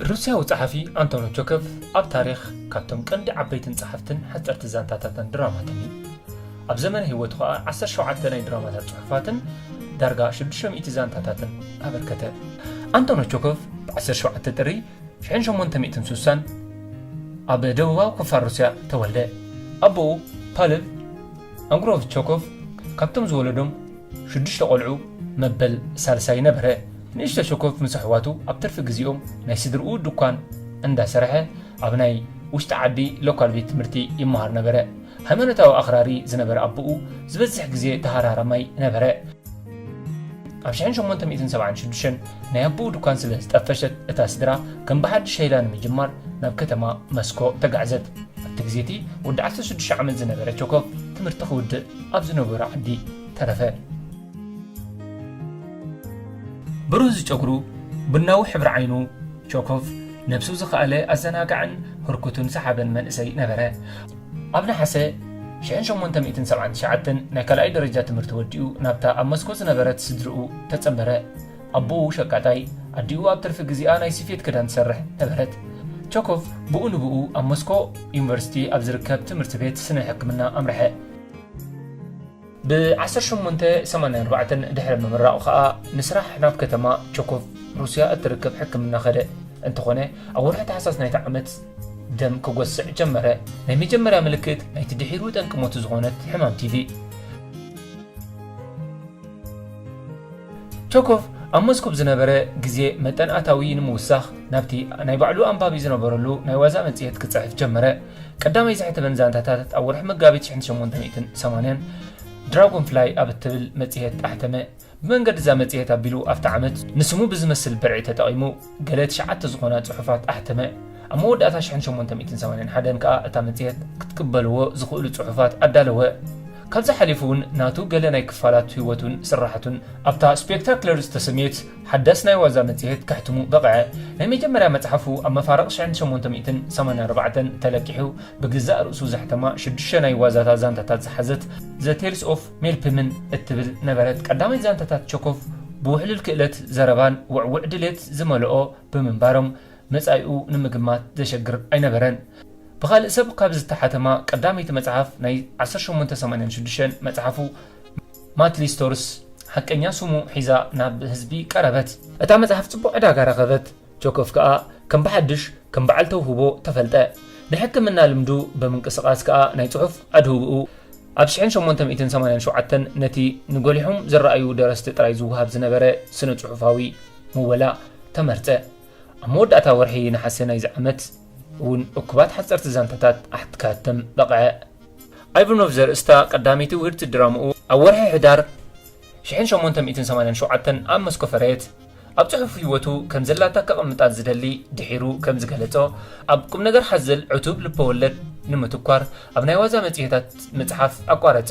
ሩስያዊ ጸሓፊ ኣንቶኖ ቾከቭ ኣብ ታሪኽ ካብቶም ቀንዲ ዓበይትን ጸሓፍትን ሓጸርቲ ዛንታታትን ድራማትን እዩ ኣብ ዘመነ ህይወቱ ኸኣ 17 ናይ ድራማታት ጽሑፋትን ዳርጋ 600 ዛንታታትን ኣበርከተ ኣንቶኖ ቾከቭ ብ17 ጥሪ ሽሕን ሸሞንተ ሚእትን ስሳን ኣብ ደቡባዊ ክፋል ሩስያ ተወልደ። ኣቦኡ ፓልቭ ኣንግሮቭ ቸኮቭ ካብቶም ዝወለዶም ሽዱሽተ ቆልዑ መበል ሳልሳይ ነበረ። ንእሽቶ ቸኮቭ ምስ ኣሕዋቱ ኣብ ትርፊ ግዜኦም ናይ ስድርኡ ድኳን እንዳሰርሐ ኣብ ናይ ውሽጢ ዓዲ ሎካል ቤት ትምህርቲ ይመሃር ነበረ። ሃይማኖታዊ ኣኽራሪ ዝነበረ ኣቦኡ ዝበዝሕ ግዜ ተሃራራማይ ነበረ። ኣብ ሽሕን ሸሞንተ ሚእትን ሰብዓን ሽዱሽተን ናይ ኣቦኡ ድኳን ስለ ዝጠፈሸት እታ ስድራ ከም ብሓድሽ ሸይላ ንምጅማር ናብ ከተማ መስኮ ተጋዕዘት። ኣብቲ ግዜ እቲ ወዲ ዓሰርተ ሽዱሽተ ዓመት ዝነበረ ቸኮቭ ትምህርቲ ክውድእ ኣብ ዝነበሮ ዓዲ ተረፈ። ብሩህ ዝጨጉሩ፣ ቡናዊ ሕብሪ ዓይኑ፣ ቸኮቭ ነብሱ ዝኸኣለ ኣዘናጋዕን ህርኩትን ሰሓብን መንእሰይ ነበረ። ኣብ ነሓሰ ሽሕን ሸሞንተ ሚእትን ሰብዓን ትሽዓተን ናይ ካልኣይ ደረጃ ትምህርቲ ወዲኡ ናብታ ኣብ መስኮ ዝነበረት ስድርኡ ተጸንበረ። ኣቦኡ ሸቃጣይ፣ ኣዲኡ ኣብ ትርፊ ግዜኣ ናይ ስፌት ክዳን ትሰርሕ ነበረት። ቸኮቭ ብኡ ንብኡ ኣብ መስኮ ዩኒቨርሲቲ ኣብ ዝርከብ ትምህርቲ ቤት ስነ ሕክምና ኣምርሐ። ብ ዓሰርተ ሸሞንተ ሰማንያ ኣርባዕተ ድሕሪ ምምራቑ ከኣ ንስራሕ ናብ ከተማ ቸኮቭ፣ ሩስያ እትርከብ ሕክምና ከደ። እንተኾነ ኣብ ወርሒ ታሕሳስ ናይቲ ዓመት ደም ክጎስዕ ጀመረ፣ ናይ መጀመርያ ምልክት ናይቲ ድሒሩ ጠንቂ ሞቱ ዝኾነት ሕማም ቲቪ። ቸኮቭ ኣብ ሞስኮቭ ዝነበረ ግዜ መጠን ኣታዊ ንምውሳኽ ናብቲ ናይ ባዕሉ ኣንባቢ ዝነበረሉ ናይ ዋዛ መጽሔት ክጽሕፍ ጀመረ። ቀዳማይ ዝሕተመን ዛንታታት ኣብ ወርሒ መጋቢት 1880 ድራጎን ፍላይ ኣብ እትብል መጽሔት ኣሕተመ። ብመንገዲ እዛ መጽሔት ኣቢሉ ኣብቲ ዓመት ንስሙ ብዝመስል ብርዒ ተጠቒሙ ገለ ትሽዓተ ዝኾና ጽሑፋት ኣሕተመ። ኣብ መወዳእታ 1881 ከኣ እታ መጽሔት ክትቅበልዎ ዝኽእሉ ጽሑፋት ኣዳለወ። ካብዚ ሓሊፉ እውን ናቱ ገለ ናይ ክፋላት ህይወቱን ስራሓቱን ኣብታ ስፔክታክለር ዝተሰምየት ሓዳስ ናይ ዋዛ መጽሔት ከሕትሙ በቕዐ። ናይ መጀመርያ መጽሓፉ ኣብ መፋርቕ ሽሕን ሸሞንተ ሚእትን ሰማንያ ኣርባዕተን ተለቂሑ ብገዛእ ርእሱ ዘሕተማ ሽዱሽተ ናይ ዋዛታ ዛንታታት ዝሓዘት ዘ ቴልስ ኦፍ ሜልፕምን እትብል ነበረት። ቀዳማይ ዛንታታት ቸኮቭ ብውሕሉል ክእለት ዘረባን ውዕዉዕ ድሌት ዝመልኦ ብምንባሮም መጻኢኡ ንምግማት ዘሸግር ኣይነበረን። ብኻልእ ሰብ ካብ ዝተሓተማ ቀዳመይቲ መጽሓፍ ናይ ዓሰርተ ሸሞንተ ሰማንያን ሽዱሽተን መጽሓፉ፣ ማት ሊስቶርስ ሓቀኛ ስሙ ሒዛ ናብ ህዝቢ ቀረበት። እታ መጽሓፍ ጽቡቕ ዕዳጋ ረኸበት፣ ቸኮቭ ከኣ ከም ብሓድሽ ከም በዓል ተውህቦ ተፈልጠ። ናይ ሕክምና ልምዱ ብምንቅስቓስ ከኣ ናይ ጽሑፍ ኣድህቦኡ ኣብ ሽሕን ሸሞንተ ሚእትን ሰማንያን ሸውዓተን ነቲ ንጐሊሖም ዝረኣዩ ደረስቲ ጥራይ ዝወሃብ ዝነበረ ስነ-ጽሑፋዊ ምወላ ተመርጸ። ኣብ መወዳእታ ወርሒ ነሓሰ ናይዚ ዓመት እውን እኩባት ሓጸርቲ ዛንታታት ኣሕት ከሀትም በቕዐ። ኣይቫኖቭ ዘርእስታ ቀዳመይቲ ውህድቲ ድራማኡ ኣብ ወርሒ ሕዳር ሽሕን ሸሞንተ ሚእትን ሰማንያን ሸውዓተን ኣብ መስኮ ፈረየት። ኣብ ጽሑፍ ህይወቱ ከም ዘላታ ከቐምጣ ዝደሊ ድሒሩ ከም ዝገለጾ ኣብ ቁምነገር ሓዘል ዕቱብ ልበወለድ ንምትኳር ኣብ ናይ ዋዛ መጽሔታት ምጽሓፍ ኣቋረጸ።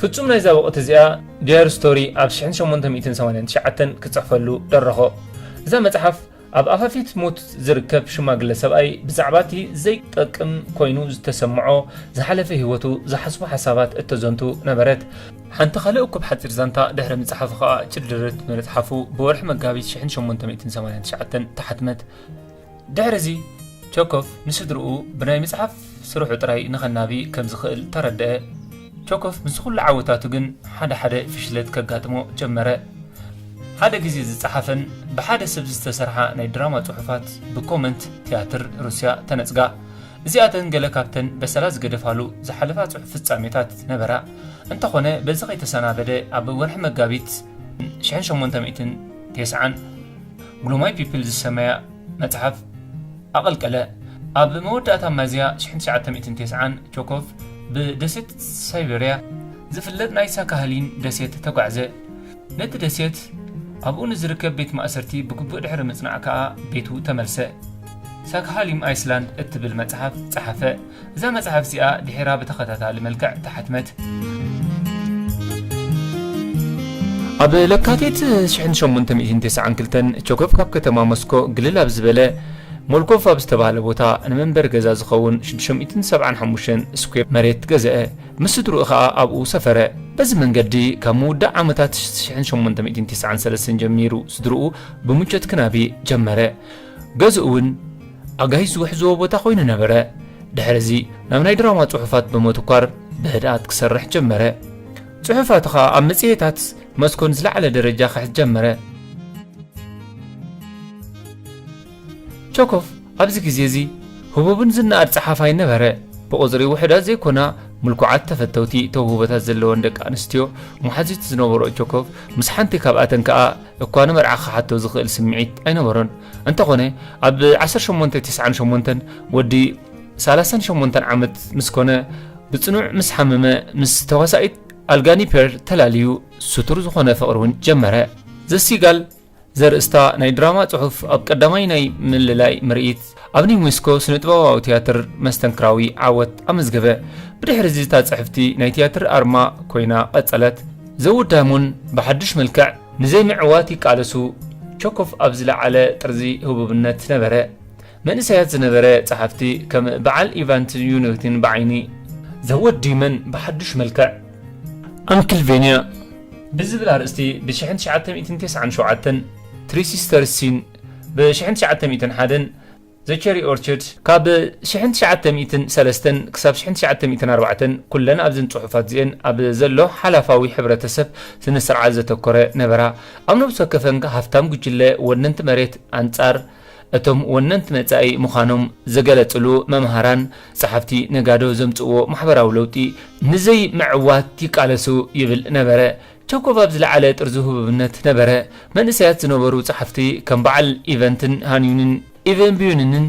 ፍጹም ናይዛ ወቕቲ እዚኣ ዲያሪ ስቶሪ ኣብ ሽሕን ሸሞንተ ሚእትን ሰማንያን ትሽዓተን ክጽሕፈሉ ደረኾ። እዛ መጽሓፍ ኣብ ኣፋፊት ሞት ዝርከብ ሽማግለ ሰብኣይ ብዛዕባ እቲ ዘይጠቅም ኮይኑ ዝተሰምዖ ዝሓለፈ ህይወቱ ዝሓስቦ ሓሳባት እተዘንቱ ነበረት። ሓንቲ ካልእ እኩብ ሓጺር ዛንታ ድሕሪ ምጽሓፉ ከኣ ጭድርት ብመጽሓፉ ብወርሒ መጋቢት ሽሕን ሸሞንተ ሚእትን ሰማንያን ትሽዓተን ተሓትመት። ድሕርዚ፣ ቸኮፍ ንስድርኡ ብናይ ምጽሓፍ ስርሑ ጥራይ ንኸናቢ ከም ዝኽእል ተረድኣ። ቸኮፍ ምስ ዅሉ ዓወታቱ ግን ሓደ ሓደ ፍሽለት ከጋጥሞ ጀመረ። ሓደ ግዜ ዝጸሓፈን ብሓደ ሰብ ዝተሰርሓ ናይ ድራማ ጽሑፋት ብኮመንት ትያትር ሩስያ ተነጽጋ። እዚኣተን ገለ ካብተን በሰላ ዝገደፋሉ ዝሓለፋ ጽሑፍ ፍጻሜታት ነበራ። እንተዀነ በዚ ከይተሰናበደ ኣብ ወርሒ መጋቢት ሽሕን ሸሞንተ ሚእትን ቴስዓን፣ Glue My People ዝሰመያ መጽሓፍ ኣቐልቀለ። ኣብ መወዳእታ ሚያዝያ ሽሕን ትሽዓተ ሚእትን ተስዓን ቸኮቭ ብደሴት ሳይበርያ ዝፍለጥ ናይ ሳካሃሊን ደሴት ተጓዕዘ። ነቲ ደሴት ኣብኡ ንዝርከብ ቤት ማእሰርቲ ብግቡእ ድሕሪ ምጽናዕ ከኣ ቤቱ ተመልሰ። ሳክሃሊም ኣይስላንድ እትብል መጽሓፍ ጸሓፈ። እዛ መጽሓፍ እዚኣ ድሒራ ብተኸታታሊ መልክዕ ተሓትመት። ኣብ ለካቲት ሽሕን ሸሞንተ ሚእትን ተስዓን ክልተን ቸኮቭ ካብ ከተማ ሞስኮ ግልል ኣብ ዝበለ ሞልኮቭ ኣብ ዝተባህለ ቦታ ንመንበሪ ገዛ ዝኸውን ሽዱሽተ ሚእትን ሰብዓን ሓሙሽተን ስኩዌር መሬት ገዝአ። ምስ ስድርኡ ከኣ ኣብኡ ሰፈረ። በዚ መንገዲ ካብ ምውዳእ ዓመታት ሽሕን ሸሞንተ ሚእትን ተስዓን ሰለስተን ጀሚሩ ስድርኡ ብምቾት ክናቢ ጀመረ። ገዝኡ'ውን ኣጋይሽ ዝውሕዝዎ ቦታ ኮይኑ ነበረ። ድሕርዚ ናብ ናይ ድራማ ጽሑፋት ብምትኳር ብህድኣት ክሰርሕ ጀመረ። ጽሑፋቱ ከኣ ኣብ መጽሔታት መስኮን ዝለዓለ ደረጃ ክሕዝ ጀመረ። ቸኮቭ ኣብዚ ግዜ እዚ ህቡብን ዝነኣድ ጸሓፋይ ነበረ። ብቑጽሪ ውሑዳት ዘይኮና ምልኩዓት ተፈተውቲ ተውህቦታት ዘለወን ደቂ ኣንስትዮ መሓዙት ዝነበሮ ቸኮቭ ምስ ሓንቲ ካብኣተን ከኣ እኳ ንመርዓ ክሓቶ ዝኽእል ስምዒት ኣይነበሮን። እንተኾነ ኣብ ዓሰርተ ሸሞንተ ቲስዓን ሸሞንተን ወዲ ሰላሳን ሸሞንተን ዓመት ምስ ኮነ ብጽኑዕ ምስ ሓመመ ምስ ተዋሳኢት ኣልጋኒ ፔርል ተላልዩ ስቱር ዝኾነ ፍቕሪ እውን ጀመረ። ዘሲጋል ዘርእስታ ናይ ድራማ ጽሑፍ ኣብ ቀዳማይ ናይ ምልላይ ምርኢት ኣብ ናይ ሞስኮ ስነ-ጥበባዊ ትያትር መስተንክራዊ ዓወት ኣመዝገበ። ብድሕርዚ እታ ጽሕፍቲ ናይ ትያትር ኣርማ ኮይና ቀጸለት። ዘውድ ዳይሞን ብሓድሽ መልክዕ ንዘይምዕዋት ይቃለሱ። ቸኮቭ ኣብ ዝለዓለ ጥርዚ ህቡብነት ነበረ። መንእሰያት ዝነበረ ጸሓፍቲ ከም ብዓል ኢቫን ትዩኒቲን ብዓይኒ። ዘውድ ዳይሞን ብሓድሽ መልክዕ። ኣንክልቬንያ ብዝብል ኣርእስቲ ብ ሽሕን ትሽዓተ ሚእትን ተስዓን ሸውዓተን ትሪ ሲስተርስ ሲን። ብ ሽሕን ትሽዓተ ሚእትን ሓደን፣ The Cherry Orchard፣ ካብ ሽሕን ትሽዓተ ሚእትን ሰለስተን ክሳብ ሽሕን ትሽዓተ ሚእትን ኣርባዕተን ኩለን ኣብዘን ጽሑፋት እዚኤን ኣብ ዘሎ ሓላፋዊ ሕብረተሰብ ስነስርዓት ዘተኮረ ነበራ። ኣብ ነብሲ ወከፈን ሃፍታም ጉጅለ ወነንቲ መሬት ኣንጻር እቶም ወነንቲ መጻኢ ምዃኖም ዝገለጽሉ መምሃራን፣ ጸሓፍቲ፣ ነጋዶ ዘምጽእዎ ማሕበራዊ ለውጢ ንዘይምዕዋት ይቃለሱ ይብል ነበረ። ቸኮቭ ኣብ ዝለዓለ ጥርዙ ህቡብነት ነበረ። መንእሰያት ዝነበሩ ጸሓፍቲ ከም በዓል ኢቨንትን ሃንዩንን፣ ኢቨን ብዩንንን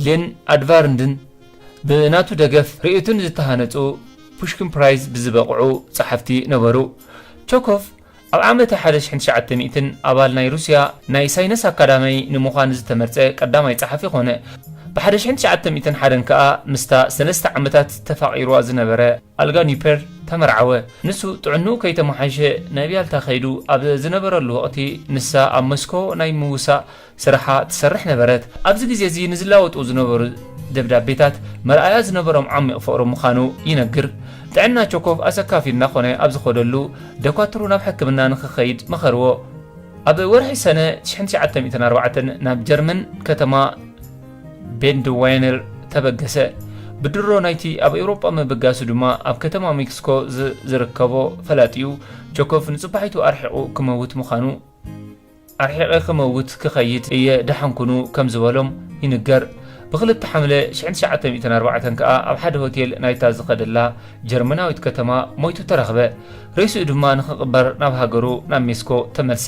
ሌን ኣድቫርንድን፣ ብናቱ ደገፍ ርእይቱን ዝተሃነጹ ፑሽኪን ፕራይዝ ብዝበቕዑ ጸሓፍቲ ነበሩ። ቸኮቭ ኣብ ዓመተ ሓደ ሽሕን ትሽዓተ ሚእትን ኣባል ናይ ሩስያ ናይ ሳይነስ ኣካዳማይ ንምዃን ዝተመርጸ ቀዳማይ ጸሓፊ ኮነ። ብ ሓደ ሽሕን ትሽዓተ ሚእትን ሓደን ከኣ ምስታ ሰለስተ ዓመታት ተፋቒሩዋ ዝነበረ፣ ኣልጋ ኒፐር ተመርዓወ። ንሱ ጥዕንኡ ከይተመሓይሸ ናብ ያልታ ከይዱ ኣብ ዝነበረሉ ወቕቲ፣ ንሳ ኣብ መስኮ ናይ ምውሳእ ስራሓ ትሰርሕ ነበረት። ኣብዚ ግዜ እዚ ንዝላወጡ ዝነበሩ ደብዳቤታት መርኣያ ዝነበሮም ዓሚቕ ፍቕሪ ምዃኑ ይነግር። ጥዕና ቸኮቭ ኣሰካፊ እናኾነ ኣብ ዝኸደሉ፣ ደኳትሩ ናብ ሕክምና ንኽከይድ መኸርዎ። ኣብ ወርሒ ሰነ ትሽሕን ትሽዓተ ሚእትን ኣርባዕተን ናብ ጀርመን ከተማ። ቤንድ ዋይነር ተበገሰ። ብድሮ ናይቲ ኣብ ኤውሮጳ ምብጋሱ ድማ ኣብ ከተማ ሜክሲኮ ዝርከቦ ፈላጢኡ ጆኮቭ ንጽባሒቱ ኣርሒቑ ክመውት ምዃኑ ኣርሒቐ ክመውት ክኸይድ እየ ደሓን ኩኑ ከም ዝበሎም ይንገር። ብክልተ ሓምለ ሽሕን ትሽዓተ ሚእትን ኣርባዕተን ከኣ ኣብ ሓደ ሆቴል ናይታ ዝኸደላ ጀርመናዊት ከተማ ሞይቱ ተረኽበ። ሬስኡ ድማ ንኽቕበር ናብ ሃገሩ ናብ ሜስኮ ተመልሰ።